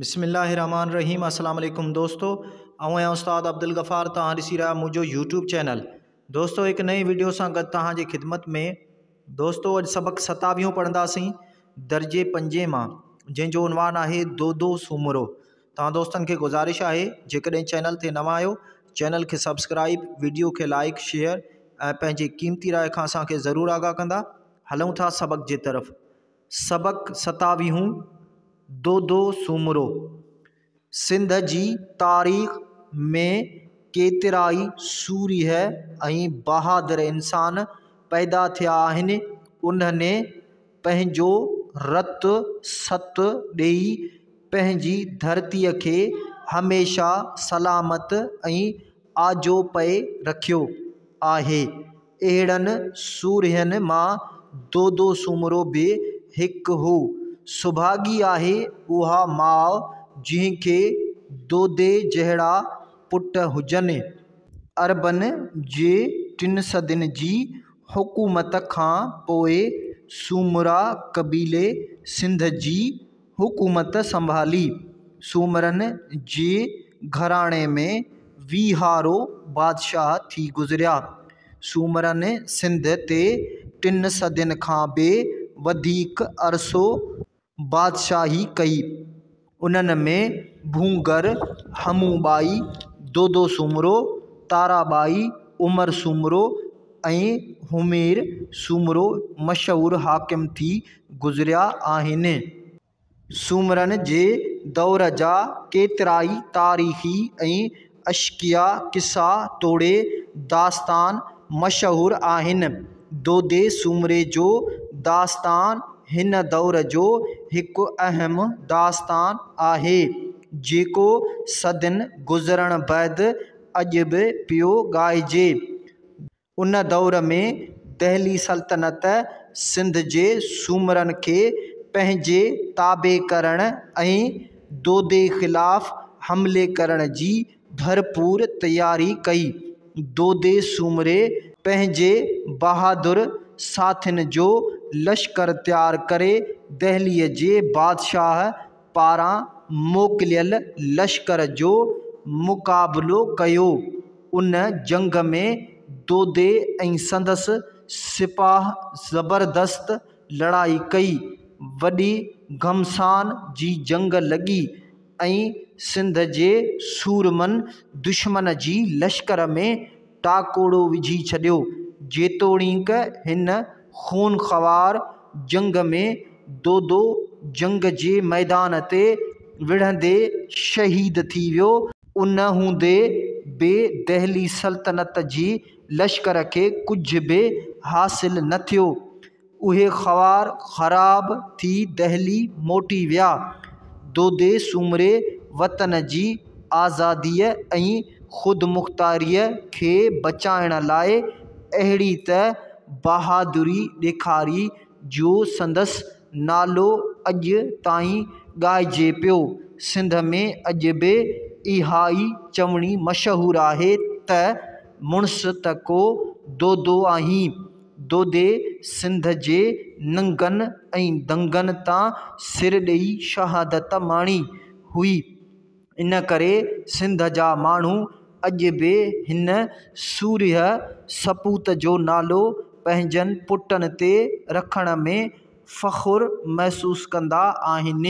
بسم الله الرحمٰن الرحيم السلام عليڪم دوستو آئون آهيان استاد عبدالغفار توهان ڏسي رهيا منهنجو يوٽيوب چينل دوستو هڪ نئين ويڊيو سان گڏ توهان جي خدمت ۾ دوستو اڄ سبق ستاويهون پڙهنداسين درجي پنجين مان جنهن جو عنوان آهي دودو سومرو توهان دوستن کي گذارش آهي جيڪڏهن چينل تي نوان آهيو چينل کي سبسڪرائب ويڊيو کي لائق شيئر ۽ پنهنجي قيمتي راء کان اسان کي ضرور آگاهه ڪندا هلون ٿا سبق جي طرف سبق ستاويهون، دودو سومرو، سنڌ جي تاريخ ۾ ڪيترائي سورهيه ۽ بهادر انسان پيدا ٿيا آهن، انهن پنهنجو رت ست ڏيئي پنهنجي ڌرتيء کي هميشه سلامت ۽ آجو پئي رکيو آهي. اهڙن سورهين مان دودو سومرو به هڪ هو. سڀاڳي آهي اها ماء جنهن کي دودي جهڙا پٽ هجن. عربن جي ٽن صدين جي حڪومت کان پوء سومرا قبيلي سنڌ جي حڪومت سنڀالي. سومرن جي گهراڻي ۾ ويهارو بادشاهه ٿي گذريا. سومرن سنڌ تي ٽن صدين کان به وڌيڪ عرصو بادشاهي ڪئي. انهن ۾ ڀونگر، همون ٻائي، دودو سومرو، تارا ٻائي، عمر سومرو، ۽ همير سومرو مشهور حاڪم ٿي گذريا آهن. سومرن جي دور جا ڪيترائي تاريخي ۽ عشقيه قصا توڙي داستان مشهور آهن. دودي سومري جو داستان هن دور جو هڪ اهم داستان آهي، جيڪو صدين گذرڻ بعد اڄ به پيو ڳائجي. ان دور ۾ دهلي سلطنت سنڌ جي سومرن کي پنهنجي تابع ڪرڻ ۽ دودي خلاف حملي ڪرڻ جي ڀرپور تياري ڪئي. دودي سومري پنهنجي بهادر ساٿين جو لشڪر تيار ڪري دهلي جي بادشاهه، پاران موڪليل لشڪر جو مقابلو ڪيو. ان جنگ ۾ دودي ۽ سندس سپاهه زبردست لڙائي ڪئي. وڏي گهمسان جي جنگ لڳي ۽ سنڌ جي سورمن دشمن جي لشڪر ۾ ٽاڪوڙو وجهي ڇڏيو، جيتوڻيڪ هن خون خوار جنگ ۾ دودو جنگ جي ميدان تي وڙهندي شهيد ٿي ويو، ان هوندي به دهلي سلطنت جي لشڪر کي ڪجهه به حاصل نه ٿيو، اهي خوار خراب ٿي دهلي موٽي ويا. دودي سومري وطن جي آزاديء ۽ خودمختاريء کي بچائڻ لاء اهڙي ته بهادري ڏيکاري جو سندس نالو اڄ تائين ڳائجي پيو. سنڌ ۾ اڄ به اها ئي چوڻي مشهور آهي ته مڙس ته ڪو دودو آهين. دودي سنڌ جي ننگن ۽ دنگن تان سر ڏئي شهادت ماڻي هئي. ان ڪري سنڌ جا ماڻهو اڄ به هن سورهيه سپوت جو نالو پنهنجن پٽن تي رکڻ ۾ فخر محسوس ڪندا آهن.